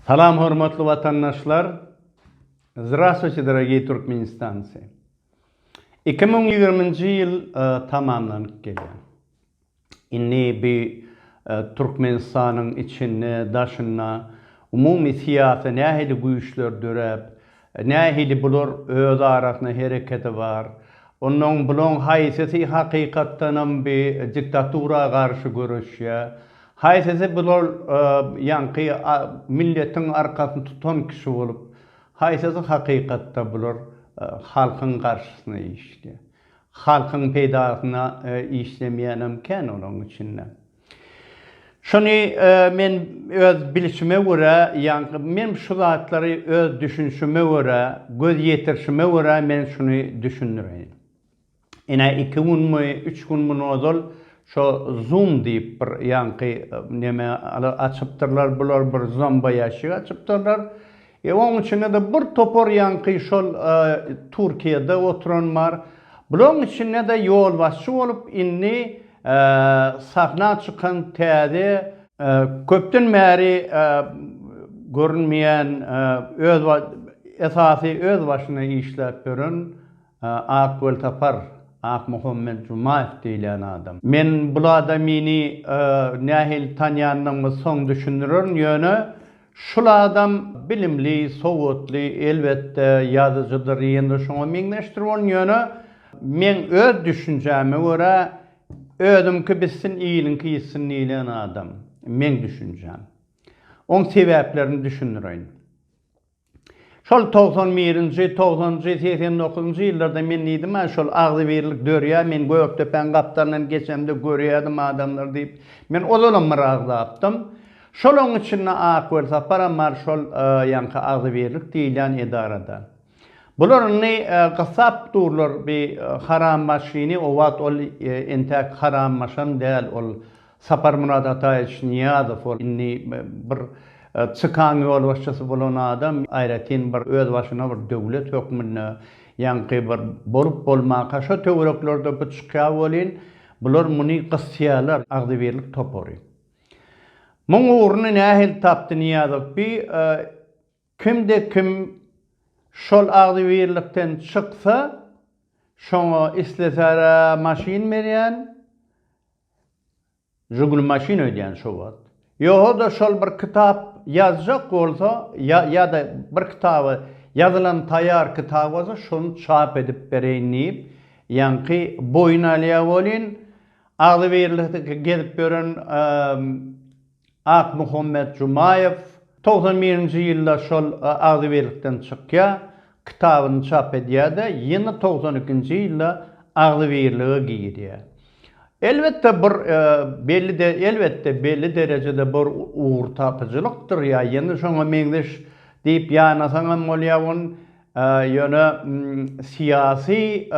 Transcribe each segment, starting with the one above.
Salam hormatly watandaşlar Zdrastwuçe dorogiý Türkmenistancy Iki müň ýigriminji ýyl tamamlanyp gelýär indi bi Türkmenistanyň içinde daşynda umumy syýasy nähili güýçler döräp Nähili bular öz arasynda hereketi bar? Onnoň bulaň haýsysy hakykatdanam bi diktatura garşy göreşýä? Haýsysy bular ýaňky milletiň arkasyny tutan kişi bolup, haýsysy hakykatda bular halkyň garşysyna işleýä? Halkyň peýdasyna işlemeýänem kän olaň içinde. Şuny men öz bilişime görä, ýaňky men şu zatlary öz düşünişime görä, göz ýetirişime görä men şuny düşündireýin. Ine, iki günmi, üç günmi ozal şo Zoom diýip bir ýaňky neme açypdyrlar bular, bir zomboýaşik açypdyrlar. E oň içinde-de bir topar ýaňky şol Türkiýede oturan bar. Bulaň içinde-de ýolbaşçy bolup indi sahna çykan täze, köpden bäri görünmeýän öz esasy öz başyna işläp ýören Ak welsapar, Akmuhammet Jumaýew diýilýän adam. Men bul adamyny nähili tanýandygymy soň düşündirerin, ýöne şul adam bilimli, sowatly, elbetde, ýazyjydyr, ýene-de şoňa meňzeşdir bolun, ýöne meň öz düşünjäme görä, özüňki bitsin, iliňki ýitsin diýilýän adam, meň düşünjäm. Oň sebäplerini düşündireýin. Şol togsan birinji, togsanjy, segsen dokuzynjy ýyllarda men diýdim-ä, şol agzybirlik dörýär, men Gökdepäň gapdalyndan geçemde görýärdim adamlary diýip, men ozalam bir agzapdym. Şolaň içinde Ak Welsaparam bar, şol ýaňky agzybirlik diýilýän edarada. Bular indi gyssap durlar bi harambaşyny, o wagt ol entäk harambaşam däl, ol Saparmyrat Ataýewiç Nyýazow ol indi bir CK-nyň ýolbaşçysy bolan adam, aýratyn bir özbaşyna bir döwlet hökmünde ýaňky bir bolup bolmaka şo töwereklerde bu çykýar welin, bular muny gysýarlar, agzybirlik topary. Muň ugruny nähili tapdy Nyýazow bi, kimde kim şol agzybirlikden çyksa, şoňa islesärä maşyn berýän, Žiguli maşyn öýdýän şo wagt. Ýoga-da şol bir kitap ýazjak bolsa ýa-da bir kitaby ýazylan taýýar kitap bolsa şony çap edip bereýin diýip ýaňky boýun alýar welin agzybirlikde gezip ýören Akmuhammet Jumaýew togsan birinji ýylda şol agzybirlikden çykýar, kitabyny çap edýär-de, ýene togsan ikinji ýylda agzybirlige girýär. Elbetde, bir belli elbetde, belli derejede bir ugurtapyjylykdyr ýa ýene şoňa meňzeş diýip ýanasaň hem bolýar ony, ýöne syýasy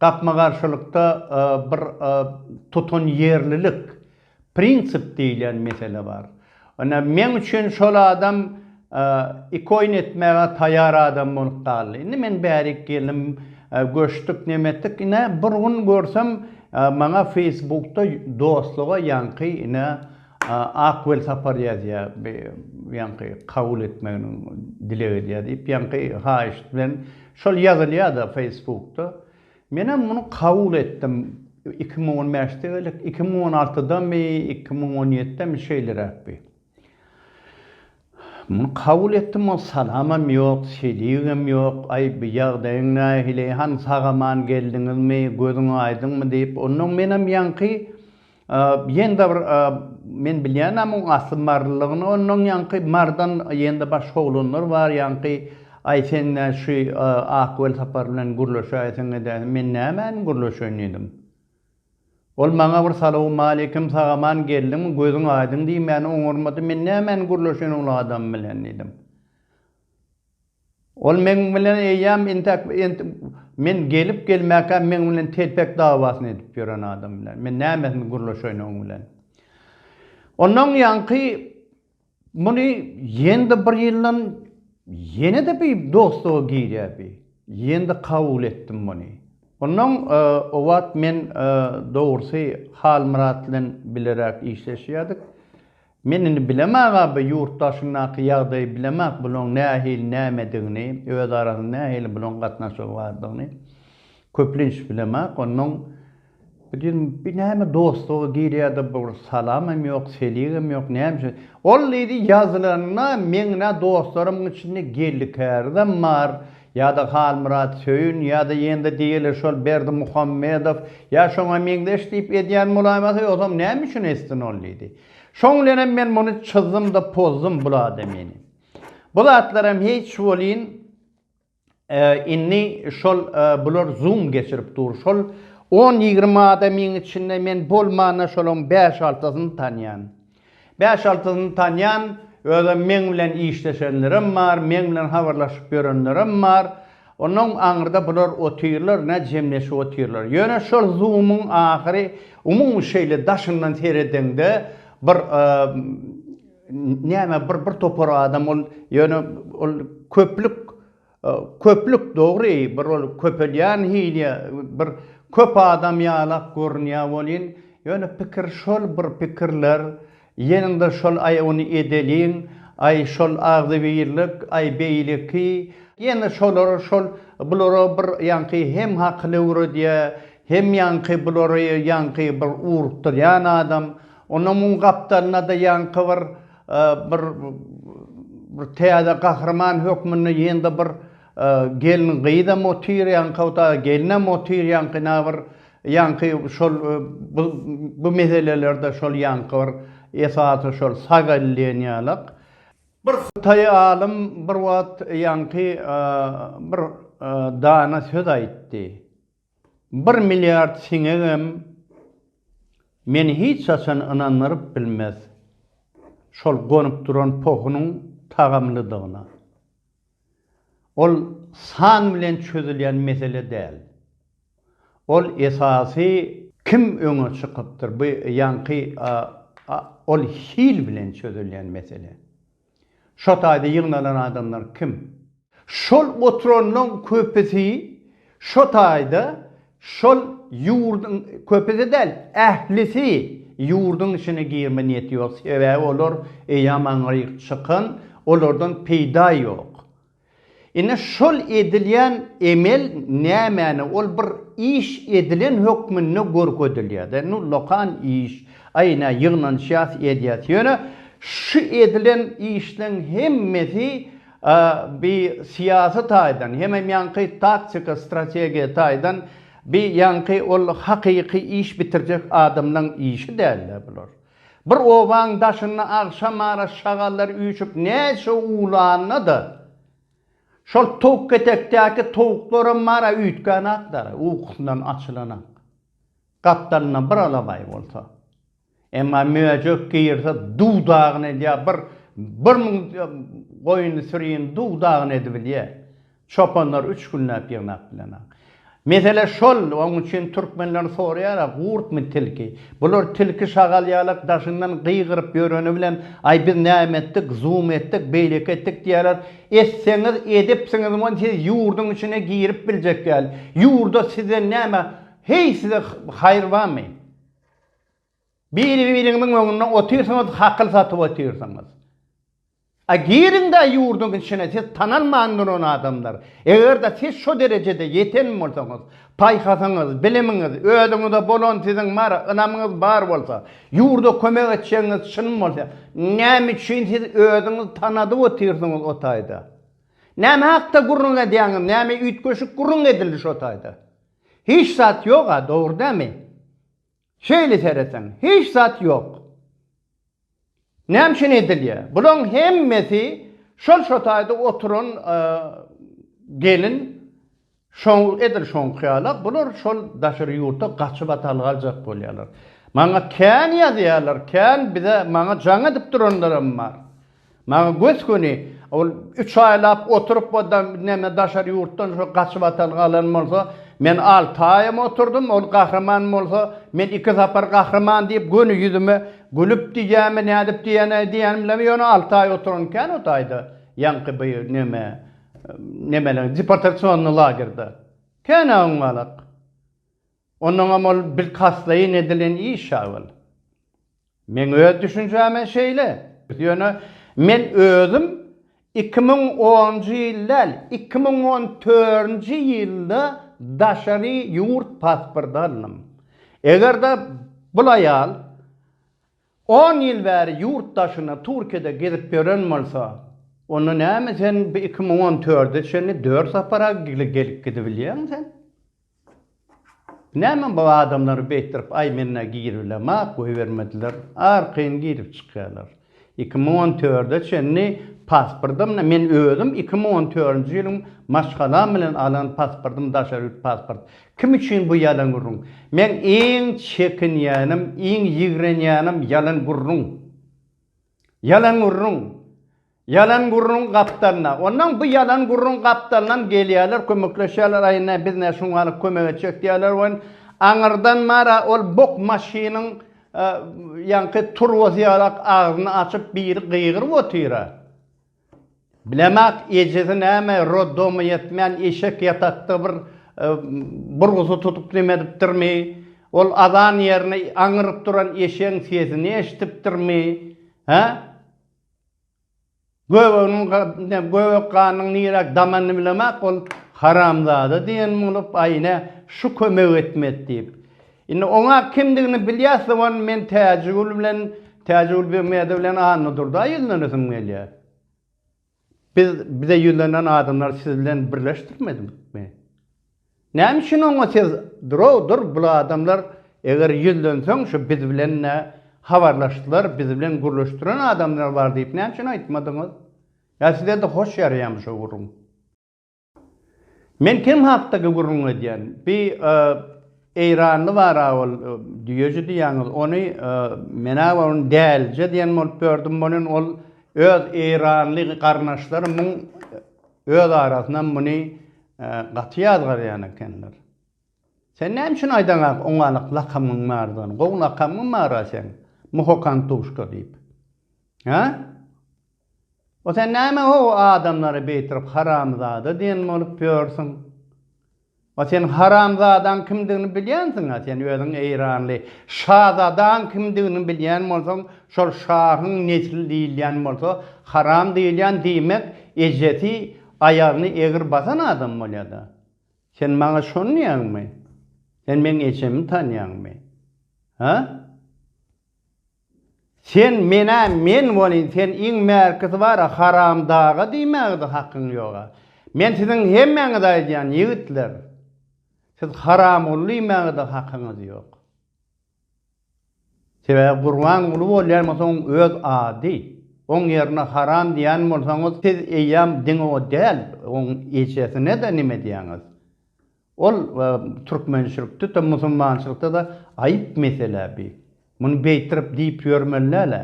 gapma-garşylykda bir tutanýerlilik, Prinsip diýlen mesele bar. Ine, meň üçin şol adam ikoýn etmäge taýar adam bolup galdy. Indi men bärik geldim, göçdük, nemetdik, ine, bir gün görsem, maňa feýsbukda dostluga ýaňky, ine, Ak welsapar ýazýar, ýaňky kabul etmegini dileg edýär diýip, ýaňky haýyşt bilen, şol ýazylýar-da feýsbukda. Menem muny kabul etdim. Iki müň on bäşde geldik. Iki müň on altydamy, iki müň on ýedidemi şeýleräkdi. Muny kabul etdim, ol salamam ýok, seligem ýok. Aý, bu ýagdaýyň nähili? Hany sag-aman geldiňizmi? Gözüň aýdyňmy? diýip. Onnoň menem ýaňky Ýene-de bir men bilýänä muň asly marylygyny onnoň ýaňky marydan ýene-de başga oglanlar bar ýaňky aý sen nä şü ak welsapar bilen gürleşäýseň edäýseň men nämäni gürleşeýin diýdim. Ol maňa bir salawmaleýkim sagaman geldiňmi gözüň aýdyň diýmäni oňarmady men nämäni gürleşeýin ol adam bilen diýdim. Ol meň bilen eýýäm intäk int men gelip gelmäkä meň bilen telpek dawasyny edip ýören adam bilen men nämesini gürleşeýin oň bilen. Ondan ýaňky muny ýene-de bir ýyldan ýene-de bi dostluga girýär bi. Ýene-de kabul etdim muny. Ondan o wagt men dogrusy Halmyrat bilen bileräk işleşýärdik. Men indi bilemak aby ýurt daşyndaky ýagdaýy bilemak bulaň nähili nämedigini öz arasynda nähili bulaň gatnaşygy bardygyny köplenç bilemak onnoň bu diýdim bir näme dostluga girýärde bir salamam ýok seligem ýok näme üçin ol diýdi ýazylanda meň dostlarymyň içinde geldi kärizem bar Ýa-da Halmyrat Söýün, ýa-da ýene-de diýeli şol Berdimuhammedow, ýa şoňa meňzeş diýip edýän bolaýmasa, ýogsam näme üçin etsin ol diýdi. Şoň bilenem men muny çyzdym-da pozdum bul adamyny. Bu zatlaram hiç welin, indi şol bular zoom geçirip dur, şol on-ýigrimi adamyň içinde men bolmanda şolaryň bäş-altysyny tanýan. Bäş-altysyny tanýan, özem meň bilen işleşenlerem bar, meň bilen habarlaşyp ýörenlerem bar. Onnoň aňyrda bular otyrlar, nä jemleşip otyrlar. Ýöne şol Zoom-yň ahyry umumy şeýle daşyndan seredeňde bir näme bir bir topar adam ol ýöne ol köplük Köplük dogry bir ol köpelýän hili bir köp adam ýalak görünýä bolýn ýöne pikir şol bir pikirler ýeniňde şol aý ony edeliň aý şol agzybirlik aý beýleki ýene şolar şol bulara bir ýaňky hem hakyly öwredýä hem ýaňky bulary ýaňky bir ugrukdyrýan adam ondan muň gapdalynada ýaňky bir Bir bir täze gahryman hökmünde ýene-de bir gelin gyzam otyr, ýaňkawta gelinem otyr, ýaňky na bir ýaňky şol bu bu meselelerde şol ýaňky bir esasy şol sagalýeniýalak. Bir hytaý alym bir wagt ýaňky bir dana söz aýtdy. Bir milliard siňegem meni hiç haçan ynandyryp bilmez şol gonup duran pohunyň tagamlydygyna. Ol san bilen çözülýän mesele däl. Ol esasy kim öňe çykypdyr, bu ýaňky ol hil bilen çözülýän mesele. Şo taýda ýygnalan adamlar kim? Şol oturanlaň köpüsi şo taýda şol ýurduň, köpüsi däl, ählisi ýurduň içine girme niýeti ýok, sebäbi olar eýýam aňryk çykan, olardan peýda ýok. Ine şol edilýän emel nämäni ol bir iş edilen hökmünde görkezilýärde nu lokan iş aý nä ýygnanyşýas edýäs ýöne şu edilen işleň hemmesi bi syýasy taýdan hemem ýaňky taktika strategiýa taýdan bi ýaňky ol hakyky iş bitirjek adamlaň işi dälde bular. Bir obaň daşynda agşam ara şagallar üýşüp näçe uwlanda-da, şol towukketekdäki towuklaram mara üýtgänakdyr, ukusyndan açylanak. Gapdalynda bir alabaý bolsa. Emma möjek girse duw-dagyny edýär, bir, bir müň goýun-sürini duw-dagyny edibilýär. Çopanlar üç günläp ýygnap bilenok. Mesele şol, oň üçin türkmenler soraýara, gurtmy tilki? Bular tilki şagal ýalak daşyndan gygyryp ýöreni bilen, aý biz näme etdik, zum etdik, beýleki etdik diýýärler. Etseňiz edipsiňiz we siz ýurduň içine girip biljek ýaly. Ýurda sizden näme, heý size haýyr barmy? Biri-biriňiziň öňünde otyrsyňyz, hakyl satyp otyrsyňyz. A giriň-de ýurduň içine, siz tanalman duran adamlar. Eger-de siz şo derejede ýeten bolsaňyz, paýhasyňyz, bilimiňiz, özüňize bolan siziň bar ynamyňyz bar bolsa, ýurda kömek etjegiňiz çyn bolsa, näme üçin siz özüňizi tanadyp otyrsyňyz o taýda? Näme hakda gürrüň edýäňiz, näme üýtgeşik gürrüň edildi şo taýda? Hiç zat ýog-a, dogry dälmi? Şeýle seretseň, hiç zat ýok. Näme üçin edilýär? Bulaň hemmesi şol şo taýda oturan gelin şo edil şoňky ýala, bular şol daşary ýurta gaçyp atal galjak bolýarlar. Maňa kän ýazýarlar, kän bize maňa jaň edip duranlaram bar. Maňa gös-göni ol üç aýlap oturyp o da neme daşary ýurtdan şo gaçybatal galan bolsa, men alty aýam oturdym, ol gahryman bolsa, men iki sapar gahryman diýip göni ýüzüme gülüp diýýämi nädip diýýänä diýýän bilemok, ýöne alty aý oturan ekän o taýda ýaňky bu neme nemeleriň deportasionnyý lagerda. Kän-ä oňňalak. Onnoňam ol bilkastlaýyn edilen iş-ä ol. Meň öz düşünjäme şeýle. Ýöne men özüm iki müň onunjy ýyl däl, iki müň on törünji ýylda daşary ýurt pasporty aldym. Eger-de bul aýal on ýyl bäri ýurt daşynda, Türkiýede gezip ýören bolsa, onda näme sen bu iki müň on törde çenli dört sapar-a gelip-gidip bilýäň sen? Näme bu adamlary beýtdirip aýmyna giriblema goýbermediler, arkaýyn girip çykýarlar. Iki müň on törde çenli pasportym men özüm iki müň on törünji ýylyň maşgalam bilen alan pasportym daşary ýurt pasport. Kim üçin bu ýalan gürrüň? Meň iň çekinýänim, iň ýigrenýänim ýalan gürrüň. Ýalan gürrüň. Ýalan gürrüň gapdalyna. Onnoň bu ýalan gürrüň gapdalynam gelýärler, kömekleşýärler, aý ine biz nä şuň ýaly kömek etjek diýýärler welin, aňyrdan mara ol bok maşynyň ýaňky turbasy ýalak agzyny açyp biri gygyryp otyra. Bilemok, ejesi näme, roddomy ýetmän eşek ýatakda bir burgusy tutup neme edipdirmi, ol azan ýerine aňyryp duran eşegiň sesini eşidipdirmi, hä? Göbeginiň ýa göbek ganynyň niräk damanyny bilemäk ol haramzada diýen bolup, aý ine, şu kömek etmedi diýip. Indi oňa kimdigini bilýä soň men Täjigül bilen, Täjigül Begmäde bilen Annadurda ýüzlenesim gelýä. Biz, bize ýüzlenen adamlar siz bilen birleşdirmedikmi? Näme üçin oňa siz durov dur bul adamlar eger ýüzlenseň şu biz bilen-de habarlaşdylar biz bilen gürleşdiren adamlar bar diýip näme üçin aýtmadyňyz? Ýa size-de hoş ýaraýamy şo gürrüň? Men kim hakdaky gürrüň edýän? Bi eýranly bar-a ol düýeji diýýäňiz ony men-ä ony dälije diýen bolup ýördüm bolýan ol öz eýranly garyndaşlary muň Öz arasynam muny gaty ýazgarýan ekenler. Sen näme üçin aýdaňak oňalyk lakamyň bardygyny? Gowy lakamyň bar-a seň, Muhokantuşka diýip. Hä? O sen näme-ow adamlary beýtirip haramzada diýen bolup ýörsüň? A sen haramzadaň kimdigini bilýänsiň-a, sen özüň eýranly şazadaň kimdigini bilýän bolsaň, şol şahyň nesli diýilýän bolsa, haram diýilýän diýmek ejesi aýagyny egri basan adam bolýa-da. Sen maňa şony diýýäňmi? Sen meň ejemi tanýaňmy? Hä? Sen menä men bolyn sen iň märkisi bara haram daga diýmägede hakyň ýoga. Men siziň hemmäňize aýdýan ýigitler siz haramguly diýmägede hakyňyz ýok. Sebäbi Gurbanguly bolýan bolsa oň öz ady. Oň ýerine haram diýýän bolsaňyz siz eýýam diňe o däl oň ejesine-de nime diýýäňiz. Ol türkmençilikde-de, musulmançylykda-da aýyp mesele bi. Muny beýtirip diýip ýörmeli däl-ä.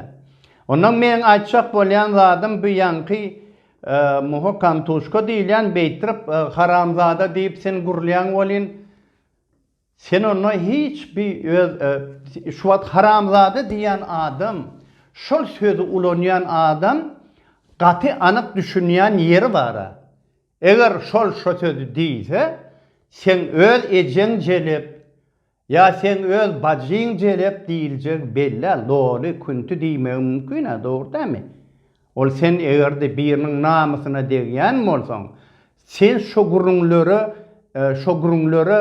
Ondan meň aýtjak bolýan zadym bu ýaňky Muhokantuşka diýilýän beýtirip haramzada diýip sen gürlýäň welin, sen onda hiç bi öz şu wagt haramzada diýýän adam, şol sözi ulanýan adam gaty anyk düşünýän ýeri bar-a. Eger şol şo sözi diýse, seň öz ejeň jelep ýa seň öz bajyň jelep diýiljegi belli-ä, loly, künti diýmegi mümkin-ä, dogry dämi? Ol sen eger-de biriniň namysyna degýän bolsaň, sen şo gürrüňlere, şo gürrüňlere,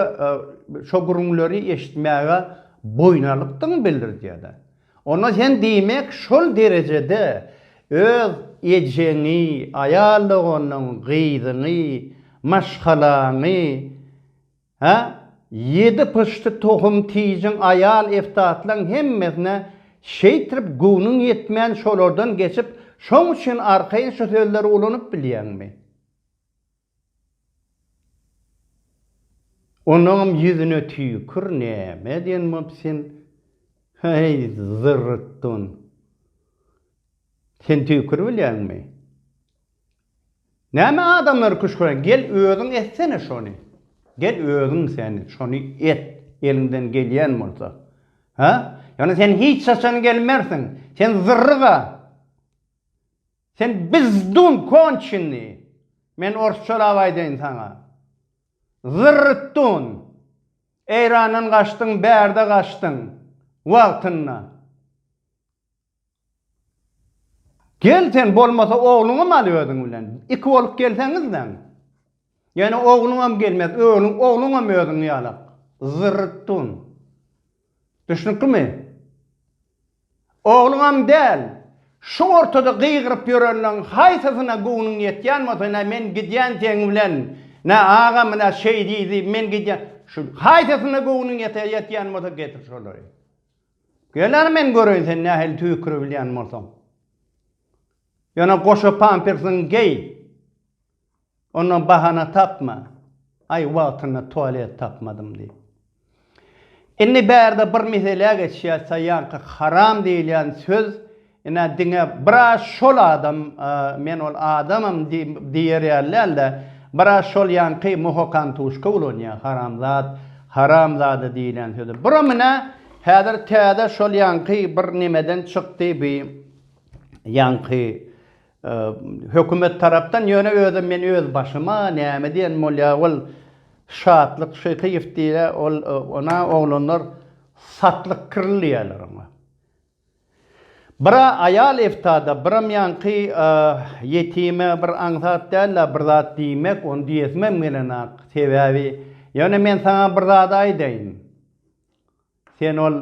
şo gürrüňleri eşitmäge boýun alykdyň bildirdýä-dä. Onda sen diýmek şol derejede öz ejeňi, aýal doganyň, gyzyňy, maşgalaňy, hä, ýedi pyşdy tohum-tijiň, aýal-eftatlaň hemmesine şeýtrip göwnüň ýetmän şolardan geçip, şoň üçin arkaýyn şu sözleri ulanyp bilýäňmi? Onuňam ýüzüne tüýkür, näme edýän bolup sen? Heý, zyrrykdun! Sen tüýkür bilýäňmi? Näme adamlary küşgüräň? Gel, özüň etsene şony! Gel, özüň sen şony et, eliňden gelýän bolsa. Hä? Ýöne sen hiç haçan gelmersiň! Sen zyrryk-a! Sen bizdun konçenny, men orsçalap aýdaýyn saňa. Zyrrtdun. Eýrandan gaçdyň, bärde gaçdyň. Wagtynda. Gel sen bolmasa ogluňam al özüň bilen. Iki bolup gelseňizläň. Ýöne ogluňam gelmez, ögluň, ogluňam özüň ýalak. Zyrrtdun. Düşnüklimi? Ogluňam däl. Şu ortada gygyryp ýörenleň haýsysyna göwnüň ýetýän bolsa, nä men gidýän seň bilen, nä agam nä şeý diýdi, men gidýän, şu haýsysyna göwnüň ýeter, ýetýän bolsa getir şolary. Gel ara men göreýin sen nähili tüýkürebilýän bolsaň. Ýöne goşa pampersiňi geý. Onda bahana tapma, Aý, wagtynda tualet tapmadym diýip. Indi bärde bir meselä geçýäs, saýýanka haram diýilýän söz, ine, diňe bira şol adam, men ol adamam diýer ýaly däl-de, bira şol ýaňky Muhokantuşka ulanýar, haramzat, haramzada diýilýän sözi. Buram, ine, häzir täze şol ýaňky bir nemeden çykdy, bi ýaňky, Hökümet tarapdan ýöne özem men öz başyma näme diýen bolýa ol Şatlyk Şyhyýew diýýä ol ona oglanlar Satlyk Krl diýýäler oňa. Bira aýal eftada biram ýaňky ýetime bir aňsat dällä bir zat diýmek ony diýesimem gelenok sebäbi ýöne men saňa bir zat aýdaýyn. Sen ol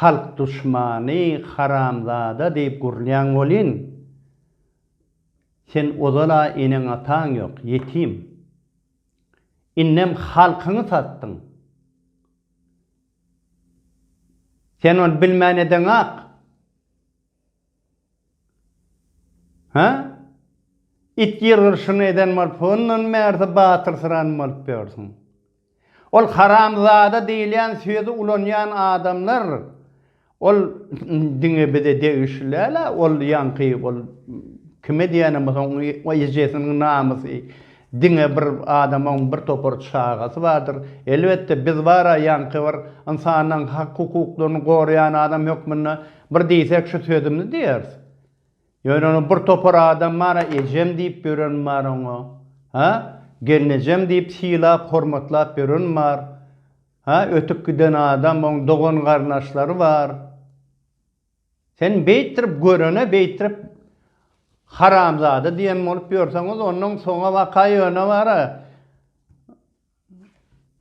halk duşmany haramzada diýip gurulýaň welin, sen ozal-a eneň-ataň ýok, ýetim. Indem halkyňy satdyň. Sen ony bilmän edeňak. Hä? It ýyrgyryşyny eden bolup, ondan bärde batyrsyran bolup ýörsüň. Ol haramzada diýilýän sözi ulanýan adamlar, ol diňe bize degişli däl-ä, ol ýaňky ol kime diýýänem bolsa, oň ejesiniň namysy diňe bir adama oň bir topar çagasy bardyr. Elbetde, biz bar-a ýaňky bir ynsanlaryň hak-hukuklaryny goraýan adam hökmünde, Bir diýsek şu sözümizi diýeris. Ýöne onuň bir topar adam bar-a ejem diýip ýören bar oňa. Ha? Gelnejem diýip sylap, hormatlap ýören bar. Ha, ötüp giden adam, oň dogan-garyndaşlary bar. Sen beýtdirip görene beýtdirip haramzada diýen bolup ýörseňiz, onuň soňa waka ýöne bar-a.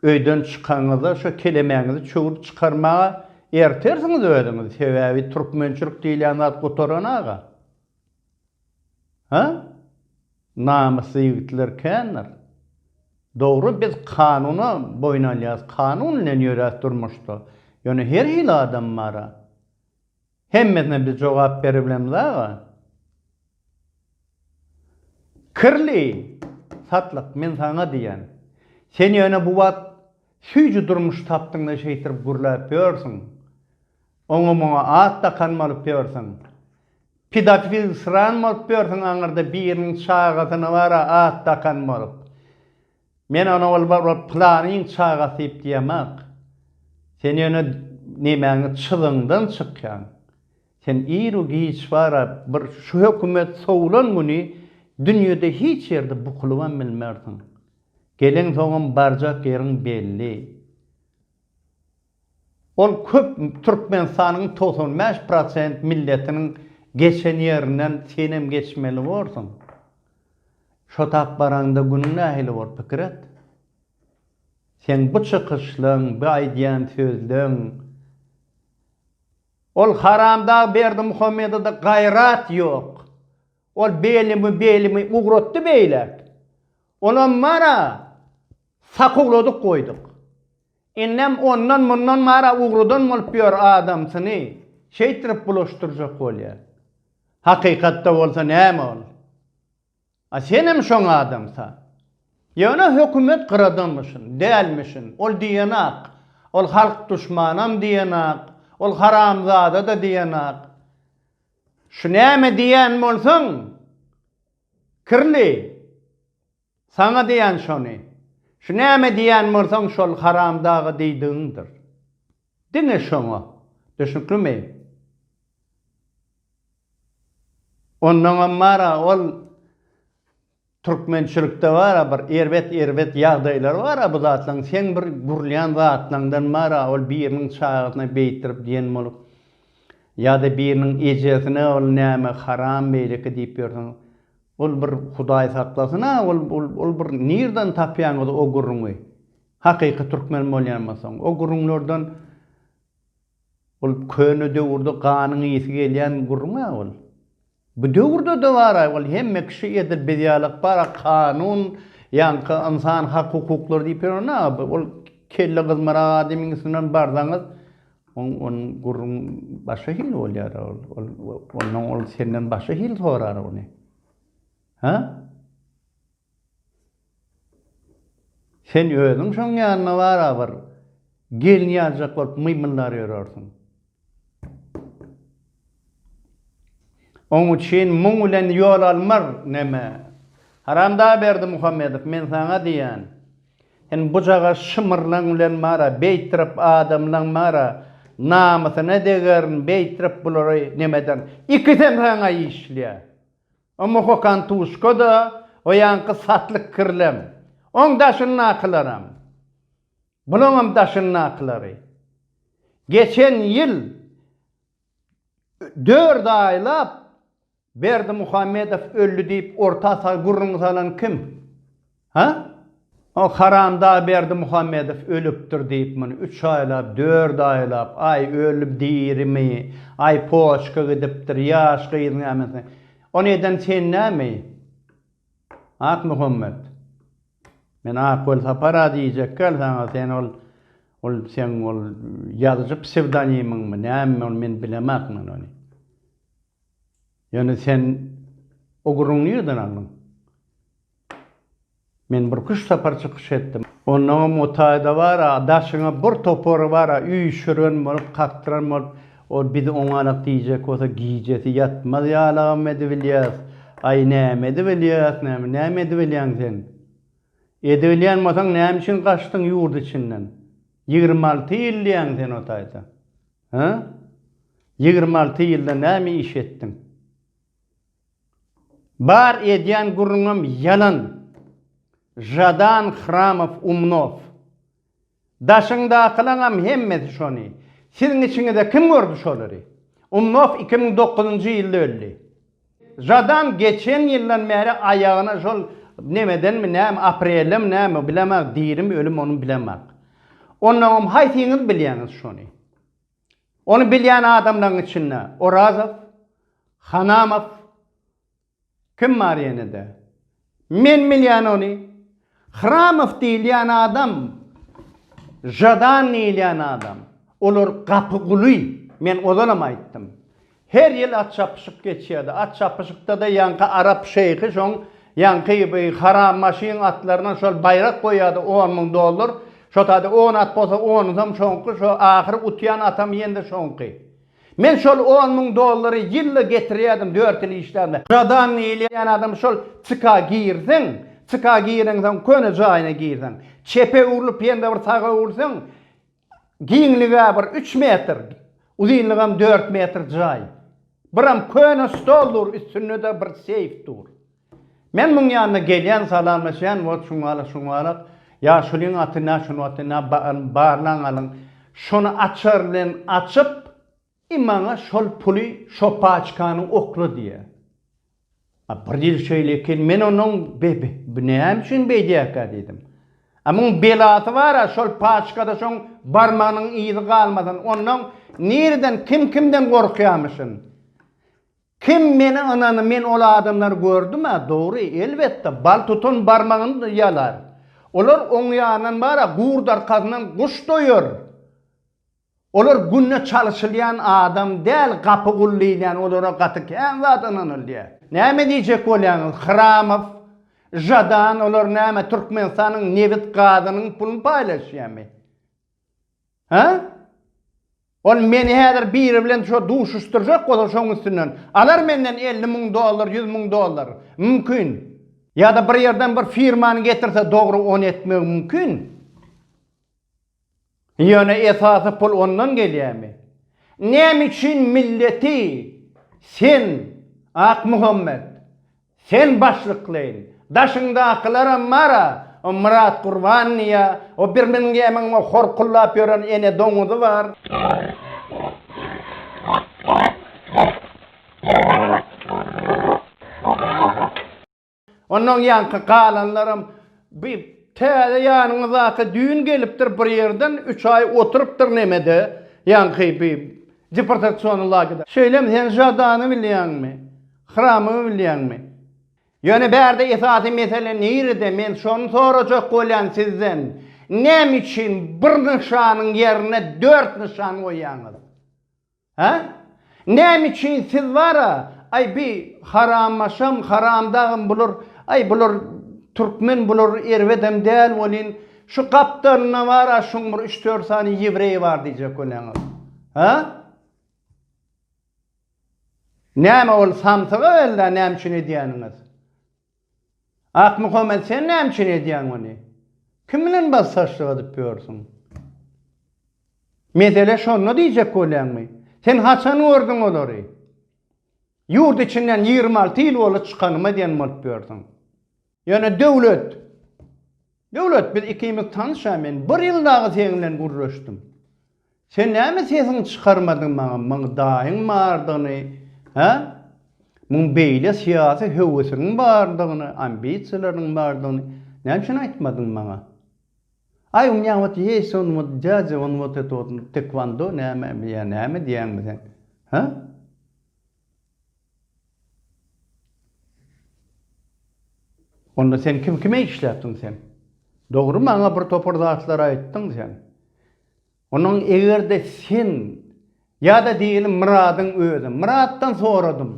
Öýden çykanyňyzda şo kelemäňizi çöwrüp çykarmaga ertersiňiz özüňizi, sebäbi türkmençilik diýilýän zat gutaran aga. Hä? Namysly ýigitler kändir. Dogry biz kanuna boýun alýas, kanun bilen ýöräs durmuşda. Ýöne her hili adam bara. Hemmesine biz jogap beribilemiz aga. Kirli satlyk men saňa diýen. Sen ýöne bu wagt süýji durmuş tapdyňda şeýtirip gürläp ýörsüň. Oňa muňa at dakan bolup ýörsüň. Pidafil syran bolup ýörsüň aňyrda biriniň çagasyna bara at dakan bolup. Men ony ol bar ol pylanyň çagasy diýip diýemok. Sen ýöne nemäňi çyzyňdan çykýaň. Sen iru giç bara bir şu hökümet sowlan güni dünýede hiç ýerde bukulybam bilmersiň. Gelensoňam barjak ýeriň belli. Ol köp Türkmenistanyň togsan bäş prosent milletiniň geçen ýerinden senem geçmeli borsuň. Şo tap baraňda günüň nähili bor, pikir et. Seň bu çykyşlaň, bu aýdýan sözleň Ol haramdag Berdimuhamedede gaýrat ýok. Ol belimi, belimi ugratdy beýläk. Onam bar-a, sakuwladyk goýduk. Indem ondan-mundan mara ugradan bolup ýör, adamsyny şeýtirip bulaşdyrjak bolýar. Hakykatda bolsa näme ol? A senem şoň adamsa. Ýöne hökümet gyradamyşyn, dälmişin, ol diýenak, ol halk duşmanam diýenak, ol haramzada-da diýenak. Şu näme diýýän bolsaň, kirli, Saňa diýen şony. Şu näme diýen bolsaň şol haramdaga diýdigiňdir. Diňe şoňa. Düşnüklimi? Ondaňam bar-a ol türkmençilikde bar-a bir erbet-erbet ýagdaýlar bar-a bu zatlaryň seň bir gürlýän zatlaňdan bar-a ol biriniň çagasyna beýtdirip diýen bolup ýa-da biriniň ejesine ol näme haram beýleki diýip ýörseň Ol bir Hudaý saklasyn-a, ol, ol, ol bir nirden tapýaňyz o gürrüňi? Hakyky türkmen bolýanmasaň, o gürrüňlerden ol köne döwürde ganyň ysy gelýän gürrüň-ä ol. Bu döwürde-de bar-a, ol hemme kişi edil biz ýalak bar-a, kanun, ýaňky ynsan hak-hukuklary diýip ýören-ä, ol kelle gyzmarak adamyň üstünden barsaňyz, Oň onuň gürrüň başga hili bolýar-a ol. Ol ondan ol senden başga hili sorar ony. Ha? Sen özüň şoň ýanyna bar-a bir gelin ýazjak bolup mymyldar ýörersiň. Oň üçin muň bilen ýol almar, neme? Haramdag Berdimuhamedow, men saňa diýýän, sen bujaga şymyrlaň bilen bar-a, beýtdirip adamlaň bar-a, namysyna degerin, beýtdirip bulary neme ederin? Ikisem saňa işleýär. O muhokantuşka-da, o ýaňky satlyk kirlem, oň daşyndakylaram. Bulaňam daşyndakylary. Geçen ýyl Dört aýlap Berdimuhamedow öldi diýip orta sag gürrüňi salan kim? Hä? O haramdag Berdimuhamedow ölüpdir diýip muny üç aýlap, dört aýlap, aý öli dirimi, aý poçka gidipdir, ýaş gyz näme. Ony eden sen näme? Akmuhammet, men Ak Welsapar-a diýjekkäl saňa, sen ol, ol seň ol ýazyjy psewdonimiňmi, näme ol, men bilemak men ony. Ýöne sen o gürrüňi nireden aldyň? Men bir küşt sapar çykyş etdim. Onnoňam o taýda bar-a, daşyňa bir topary bar-a, üýşüren bolup, kakdyran bolup, Ol biz oňarak diýjek bolsa gijesi ýatmaz ýalagam edibilýäs. Aý näme edibilýäs näme, näme edibilýäň sen? Edibilýän bolsaň näme üçin gaçdyň ýurt içinden? Ýigrimi alty ýyl diýýäň sen o taýda. Hä? Ýigrimi alty ýylda näme iş etdiň? Bar edýän gürrüňem ýalan. Žadan Hramow Umnow. Daşyňdakylaňam hemmesi şony. Siziň içiňizde kim gördi şolary? Umnow iki müň dokuzynjy ýylda öldi. Žadan geçen ýyldan bäri aýagyna şol nemedenmi näme, aprelem näme, bilemok, dirimi, ölümi ony bilemok. Onnoňam haýsyňyz bilýäňiz şony? Ony bilýän adamlaryň içinde Orazow, Hanamow, Kim bar ýenede? Men bilýän ony. Hramow diýilýän adam, Žadan diýilýän adam. Olar gapyguly. Men ozalam aýtdym. Her ýyl at çapyşyk geçýärdi. At çapyşykda-da ýaňky arap şeýhi şoň ýaňky bi haram maşyn atlaryna şol baýrak goýýardy, on müň dollar. Şo taýda on at bolsa, onusam şoňky, şo ahyry utýan atam ýene-de şoňky. Men şol on müň dollary ýylla getirýärdim, dört ýyl işläbem. Radan diýilýän adam şol CK-a girseň, CK-a gireňsoň köne jaýyna girseň, çepe öwrülip ýene-de bir saga öwrülseň, giňligi-ä bir üç metr, uzynlygam dört metr jaý. Biram köne stol dur, üstünde-de bir seýf dur. Men muň ýanyna gelýän, salamlaşýan, wot şuňalak, şuňalak, ýa şulyň aty nä, şunyň aty nä, barlaň alyň, şony açar bilen açyp, i maňa şol puly şo paçkany okla diýýär. A bir ýyl şeýle eken, men onuň, be, be, bu näme üçin beýdýärkä diýdim. A muň belasy bar-a, şol paçkada şoň barmagynyň yzy galmasyn, onnoň nireden, kim kimden gorkýamyşyn. Kim meni ynany men ol adamlary gördüm-ä dogry elbetde bal tutan barmagyny ýalar. Olar oň ýanyndan bar-a gur darkasyndan guş doýar. Olar günde çalyşylýan adam däl gapy gul diýilýän olara gaty kän zat ynanylýar. Näme diýjek bolýaňyz Hramow, Žadan olar näme Türkmenistanyň nebit gazynyň pulyny paýlaşýamy? Hä? Ol meni häzir biri bilen şo duşuşdyrjak bolsa şoň üstünden alar menden elli müň dollar, ýüz müň dollar. Mümkin. Ýa-da bir ýerden bir firmany getirse dogry ony etmegi mümkin. Ýöne esasy pul ondan gelýämi? Näme üçin milleti sen Akmuhammet Sen başlyklaýyn. Daşyňdakylaram bar-a, o Myrat Gurban diýýä, o Birmingemiň o hor kullap ýören ene doňuzy bar. Ondan ýaňky galanlaram bi täze ýanyňy zat-a düýn gelipdir bir ýerden, üç aý oturypdyr nämede, ýaňky bi deportasiony lagede. Şeýlemi, sen Žadany bilýäňmi? Hramymy bilýäňmi? Ýöne bärde esasy mesele nirede? Men şony sorajak bolýan sizden. Näme üçin bir nyşanyň ýerine dört nyşan goýýaňyz? Hä? Näme üçin siz bara, aý bi harammaşam, haramdagym bular, aý bular türkmen bular erbedem däl welin, şu gapdalynda bara şuň bir üç-dört sany ýewreý bar diýjek bolýaňyz? Hä? Näme ol samsyk owelda näme üçin edýäniňiz? Akmuhammet sen näme üçin edýäň ony? Kim bilen bassaşlyk edip ýörsüň? Mesele şonda diýjek bolýaňmy? Sen haçan gördüň olary? Ýurt içinden ýigrimi alty ýyl bolup çykanyma diýen bolup ýörsüň. Ýöne Döwlet. Döwlet, biz ikimiz tanyş-a, men bir ýyl dagy seň bilen gürleşdim. Sen näme sesiňi çykarmadyň maňa, muň daýyň bardygyny, hä? Muň beýle syýasy höwesiňiň bardygyny, ambisiýalaryňyň bardygyny näme üçin aýtmadyň maňa? Aý, u mňa wot ýeýs on wot dýadýa, on wot eto, tekwando näme, ýa näme diýýäňmi sen, hä? Onda sen kim kime işläpdiň sen? Dogry maňa bir topar zatlar aýtdyň sen. Onuň egerde sen ýada diýelim Myradyň özi. Myratdan soradym.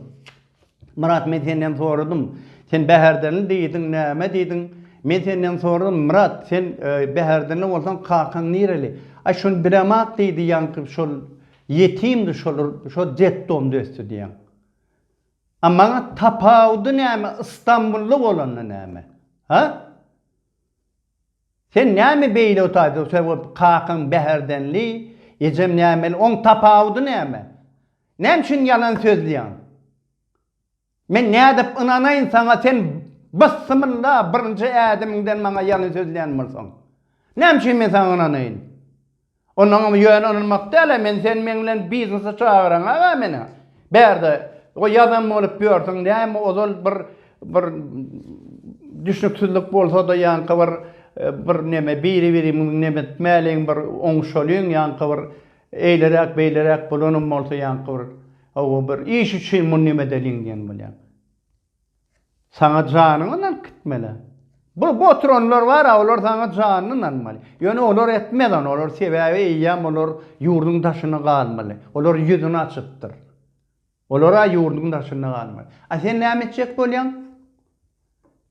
Myrat men senden soradym. Sen Bäherdenli diýdiň näme diýdiň? Men senden soradym Myrat sen Bäherdenli bolsaň kakaň nireli? Aý şony biremat diýdi ýaňky şol Ýetimdi şolar şo detdomda ösdi diýen. A maňa tapawudy näme Istanbulda bolanda näme? Ha? Sen näme beýle otaýdyň sen o kakaň Bäherdenli, ejem nämeli oň tapawudy näme? Näme üçin ýalan sözleýäň? Men nädip ynanaýyn saňa sen byssymylla birinji ädimiňden maňa ýalyn sözleýän bolsaň. Näme üçin men saňa ynanaýyn. Onuňam ýöne ynanmak dälä men sen meň bilen biznese çagyraň aga meni bärde o ýazan bolup ýörsüň näme ozal bir bir düşnüksizlik bolsada ýaňky bir bir neme biri birimiň neme etmäliň bir oňuşalyň ýaňky bir eýleräk beýleräk bolanam bolsa ýaňky bir Hawa, bir iş üçin muny neme edeliň diýen bolýaň. Saňa janyňy alyp gitmeli. Bu oturanlar bar-a, olar saňa janyny almaly. Ýöne olar etmez ony, olar sebäbi eýýäm olar ýurduň daşyna galmaly. Olar ýüzüni açypdyr. Olar-a ýurduň daşynda galmaly. A sen näme etjek bolýaň?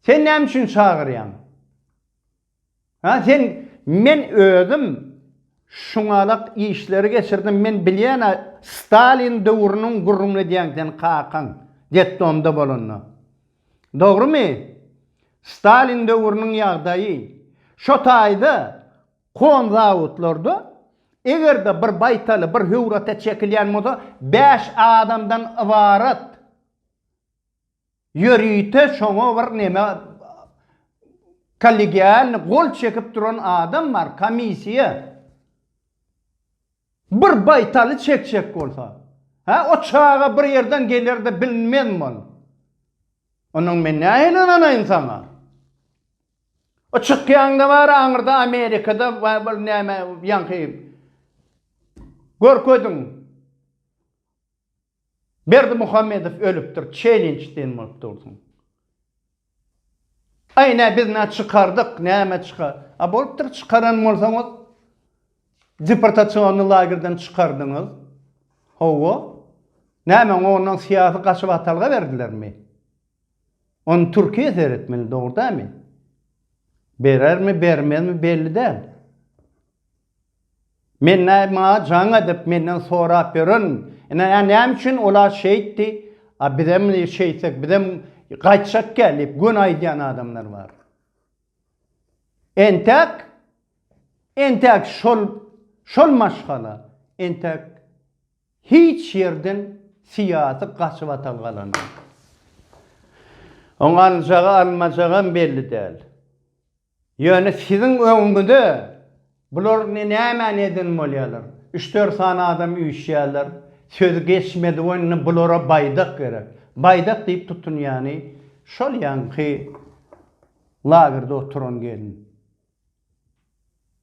Sen näme üçin çagyrýaň? Ha sen men özüm şuňalak işleri geçirdim men bilýäna stalin döwrüniň gürrüňini edýäň sen kakaň detdomda bolanda dogrymy stalin döwrüniň ýagdaýy şo taýda kon zawodlarda egerde bir baýtaly bir höwrata çekilýän bolsa bäş adamdan ybarat Ýörite şoňa bir neme kollegialny gol çekip duran adam bar, komissiýa. Bir baýtaly çekjek bolsa. Hä, o çaga bir ýerden geler-de bilinmezmi ol? Ondan men nähili ynanaýyn saňa? O çykýaňda bar aňyrda Amerikada bir näme ýaňky görkediň. Berdimuhamedow ölüpdir çelinç diýen bolup dursuň. Aý nä biz nä çykardyk näme çyka a bolupdyr çykaran bolsaňyz deportasionny lagerden çykardyňyz howwa näme oňa ondan syýasy gaçyp atalga berdilermi ony türkiýe seretmeli dogry dämi berermi bermezmi belli däl. Menne maňa jaň edip menden sorap ýören ine ä näme üçin ola şeýtdi a bizem şeýtsek bizem gaýtjak kä diýip göni aýdýan adamlar bar. Entäk entäk şol şol maşgala entäk hiç ýerden syýasy gaçybatal galanok. Oň aljagy almajagam belli däl. Ýöne siziň öňüňize bular ne nämäni eden bolýalar. Üç-dört sany adam üýşýäler. Sözi geçmedi we indi bulara baýdak gerek. Baýdak diýip tutunýany şol ýaňky lagerde oturan gelin.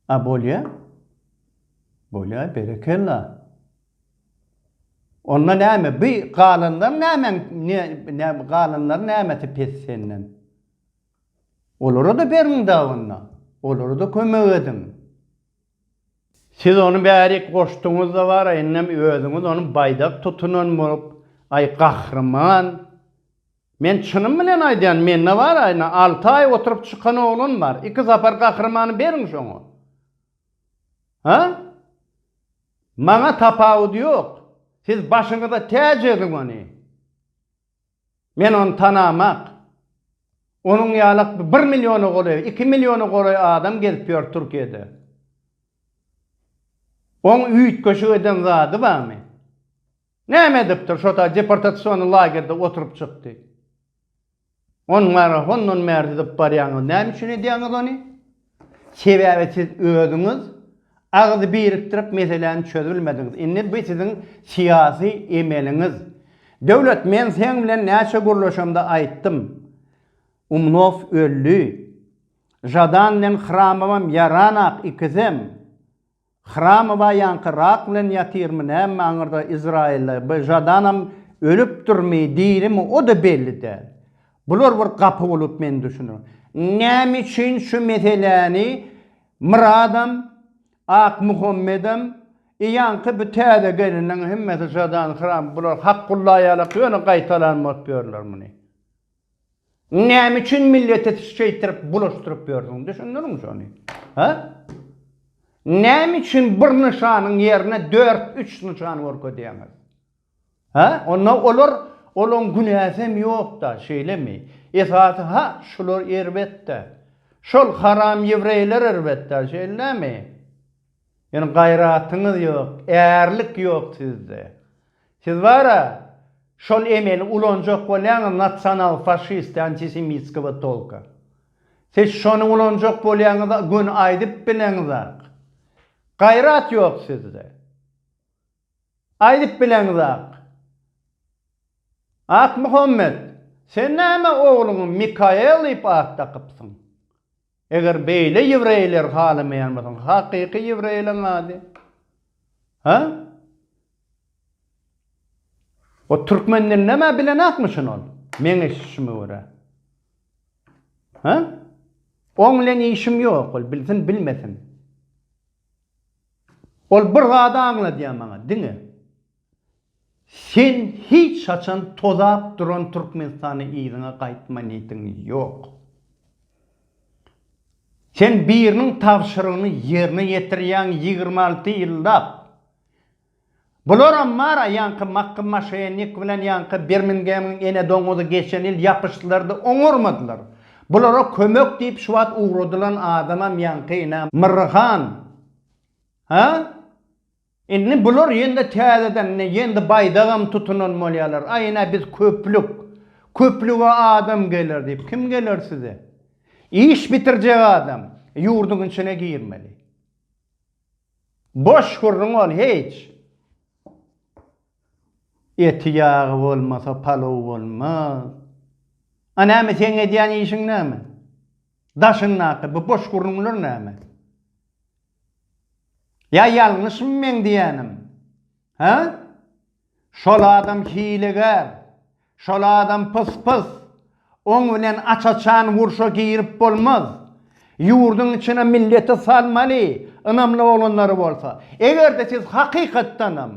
A bolýa? Bolýa, berekella. Onda näme, bi galanlar nämäň, ne, galanlaryň nämesi pes senden? Olara-da beriň dabynda, olara-da kömek ediň. Siz ony bärik goşduňyz-da bar-a, indem özüňiz ony baýdak tutunan bolup, aý, gahryman! Men çynym bilen aýdýan, mende bar-a, ine, alty aý oturyp çykan oglan bar. Iki sapar gahrymany beriň şoňa. Ha? Maňa tapawudy ýok. Siz başyňyza täç ediň ony. Men ony tanamak. Onuň ýalak bir milliona golaý, iki milliona golaý adam gezip ýör Türkiýede. Oň üýtgeşik eden zady barmy? Näme edipdir şo ta deportasion lagerde oturyp çykdy. Ony marafondan bäri didip barýaňyz näme üçin edýäňiz ony? Sebäbi siz özüňiz agyz birikdirip meseläni çözbilmediňiz. Indi bu siziň syýasy emeliňiz. Döwlet men seň bilen näçe gürleşemde aýtdym. Umnow öldi. Žadan bilen Hramowam ýaranok ikisem. Hramowa ýaňky rak bilen ýatyrmy näme aňyrda Izraýylda by žadanam ölüpdirmi dirimi oda belli däl. Bular bir gapy bolup men düşüne. Näme üçin şu meseläni Myradam Akmuhammedem i ýaňky bu täze geliniň hemmesi žadan hram bular Hakgullaýalak ýöne gaýtalanmap ýörler muny. Näme üçin milleti şeýtirip bulaşdyryp ýörsüň, düşündiriň şony? Hä? Näme üçin bir nyşanyň ýerine dört, üç nyşan görkezýäňiz? Hä? Onda olar, olaň günäsem ýok-da, şeýlemi? Esasy, ha, şular erbet-dä. Şol haram ýewreýler erbet-dä, şeýlemi? Ýöne gaýratyňyz ýok, ärlik ýok sizde. Siz bara şol emeli ulanjak bolýaňyz nasional faşist antisemitskowa tolka. Siz şony ulanjak bolýaňyz göni aýdyp bilen zat. Gaýrat ýok sizde. Aýdyp bilen zat. Akmuhammet, sen näme ogluňy Mikael diýip at dakypsyň. Eger beýle ýewreýleri halamaýan bolsaň, hakyky ýewreýleriň ady? Hä? O türkmen dilini emma bilenakmy şuny ol? Meň eşitişime görä. Hä? Oň bilen işim ýok, ol bilsin, bilmesin. Ol bir zady aňladýar maňa, diňe. Sen hiç haçan tozap duran Türkmenistana yzyňa gaýtma niýetiň ýok. Sen biriniň tabşyrygyny ýerine ýetirýäň ýigrimi alty ýyllap. Bularam bar-a ýaňky Makky Maşenik bilen ýaňky Birmingemyň ene doňuzy geçen ýyl ýapyşdylar-da oňarmadylar. Bulara kömek diýip şu wagt ugradylan adamam ýaňky ine Myrryhan. Hä? Indi bular ýene-de täzeden ine ýene-de baýdagam tutunan bolýarlar. Aý ine biz köplük, köplüge adam geler diýip. Kim geler size? Iş bitirjek adam ýurduň içine girmeli. Boş gürrüň ol hiç. Eti ýagy bolmasa palow bolmaz. A näme seň edýän işiň näme? Daşyňdaky bu boş gürrüňler näme? Ýa ýalňyşmy meň diýýänim? Hä? Şol adam hilegär. Şol adam pys-pys. Oň bilen aç-açan urşa girip bolmaz. Ýurduň içine milleti salmaly, ynamly oglanlary bolsa. Eger-de siz hakykatdanam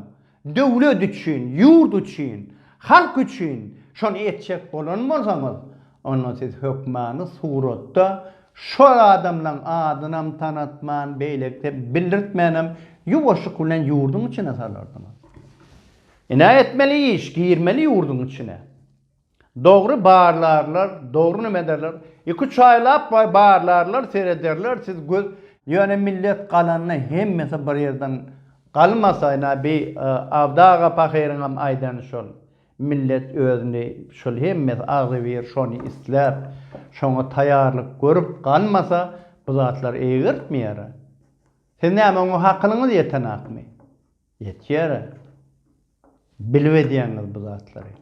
Döwlet üçin, ýurt üçin, halk üçin şony etjek bolan bolsaňyz, onda siz hökmany suratda şol adamlaň adynam tanatman, beýlekide bildirtmänem ýuwaşlyk bilen ýurduň içine salardyňyz. Ine etmeli iş, girmeli ýurduň içine. Dogry barlarlar dogry name ederler iki üç aýlap barlarlar serederler siz göz Ýöne millet galanda hemmesi bir ýerden galmasayny a bi Abdy aga pahyryňam aýdany şol millet özüni şol hemmesi agzybir şony isläp şoňa taýarlyk görüp galmasa bu zatlar eýgertmeýär a siz näme oňa hakylyňyz ýetenakmy Ýetýär bilip edýäňiz bu zatlary.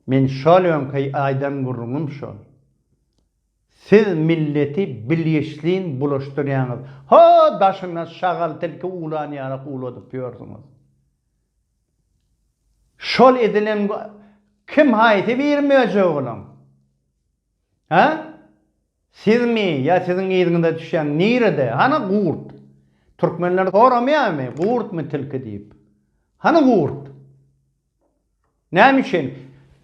Men şol öňki aýdan gürrüňim şol. Siz milleti bilgiçlin bulaşdyrýaňyz. Ho, daşyna şagal tilki uwlan ýalak uwladyp ýörsüňiz. Şol edilen kim haýsy biri möjek olaň? Hä? Sizmi ýa siziň yzyňyza düşýän nirede, hany gurt? Türkmenler soramýarmy, gurtmy tilki diýip? Hany gurt? Näme üçin?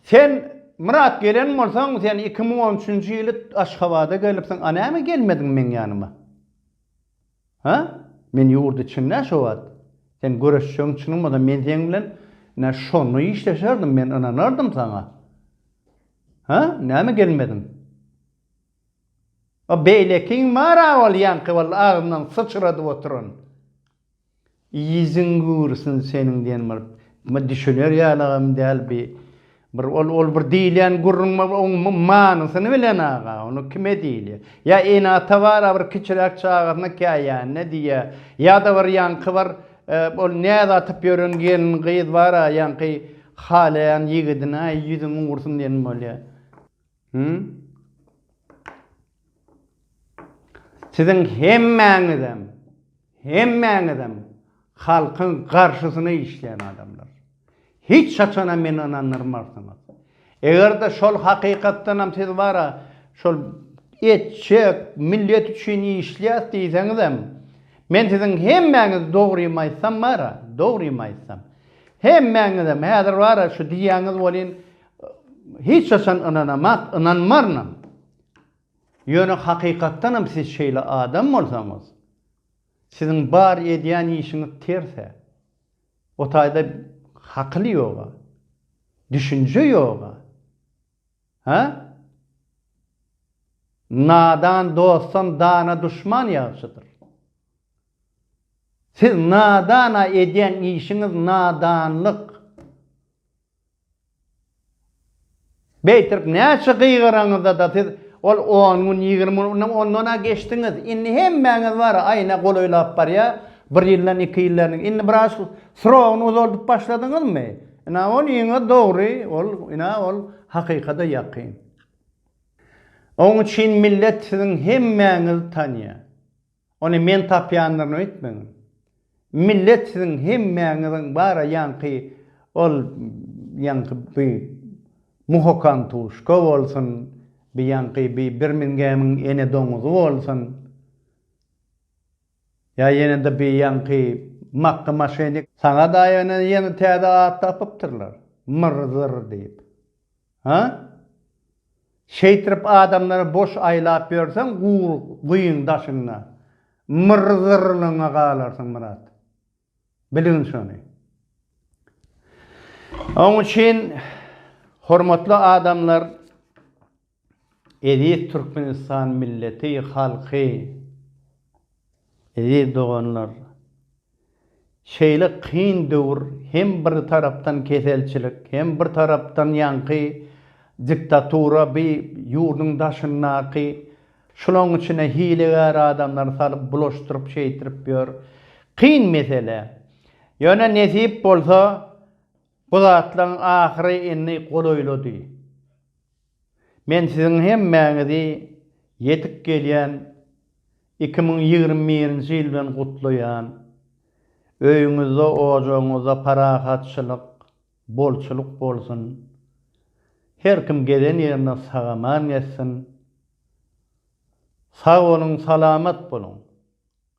Sen Myrat gelen bolsaň, sen iki müň on üçünji ýyly Aşgabada gelipsiň, a näme gelmediň meň ýanyma? Hä? Men ýurt içinde şo wagt sen göreşjegiň çynyň bolsa men seň bilen ine şonda işleşerdim men ynanardym saňa. Hä? Näme gelmediň? A beýlekiň bar-a ol ýaňky walla agzyndan syçradyp oturan. Yzyň gurusun seniň diýen bir ma düşüner ýalam däl bi bir ol ol bir diýilýän gürrüň bar bir oň manysyny bilen aga ony kime diýilýä ýa ene ata bara bir kiçiräk çagasyna käýänine diýýä ýada bir ýaňky bir ol näz atyp ýören gelin gyz bara ýaňky halaýan ýigidine aý ýüzüň gurusun diýen bolýa Hü? Siziň hemmäňizem, hemmäňizem halkyň garşysyna işleýän adamlar. Hiç haçanam meni ynandyrmarsyňyz. Eger-de şol hakykatdanam siz bara şol etjek, millet üçin işleýäs diýseňizem, men siziň hemmäňiz dogrymy aýtsam bara, dogrymy aýtsam, hemmäňizem häzir bara şu diýýäňiz welin, Hiç haçan ynanamak, ynanmarynam. Ýöne hakykatdanam siz şeýle adam bolsaňyz, siziň bar edýän işiňiz ters-ä. O taýda hakyl ýog-a. Düşünje ýog-a. Hä? Nadan dostdan dana duşman ýagşydyr. Siz nadan-a edýän işiňiz nadanlyk. Beýtirip näçe gygyraňyzda-da siz ol on gün, ýigrimi gün, ynha ondan-a geçdiňiz. Indi hemmäňiz bar-a aýna golaýlap barýar. Bir ýyldan iki ýyl däl. Indi biraz srogyny uzaldyp başladyňyzmy? Ynha ol iňňe dogry, ol, ynha ol hakykada ýakyn. Oň üçin millet siziň hemmäňizi tanýar. Ony men tapýandyryny öýtmäň. Millet siziň hemmäňiziň bara ýaňky ol ýaňky bi Muhokam Tuşka bolsun, bi ýaňky bi Birmingemiň ene doňuzy bolsun, ýa ýene-de bi ýaňky Makga Maşenik, saňa-da ýöne ýene täze at tapypdyrlar, Myr-zyr diýip. Hä? Şeýtrip adamlary boş aýlap ýörseň gur guýyň daşynda myrzyrlygyňa galarsyň Myrat. Bilgin şony. Oň üçin hormatly adamlar eziz Türkmenistan milleti halky eziz doganlar. Şeýle kyn döwür hem bir tarapdan keselçilik, hem bir tarapdan ýaňky diktatura bi ýurduň daşyndaky şulaň içine hilegär adamlary salyp bulaşdyryp şeýtirip ýör. Kyn mesele. Ýöne nesip bolsa bu zatlaň ahyry indi golaýlady. Men siziň hemmäňizi ýetip gelýän iki müň ýigrimi birinji ýyl bilen gutlaýan. Öýüňizde, ojagyňyzda parahatçylyk, bolçulyk bolsun. Her kim gezen ýerinde sag-aman gezsin. Sag boluň, salamat boluň.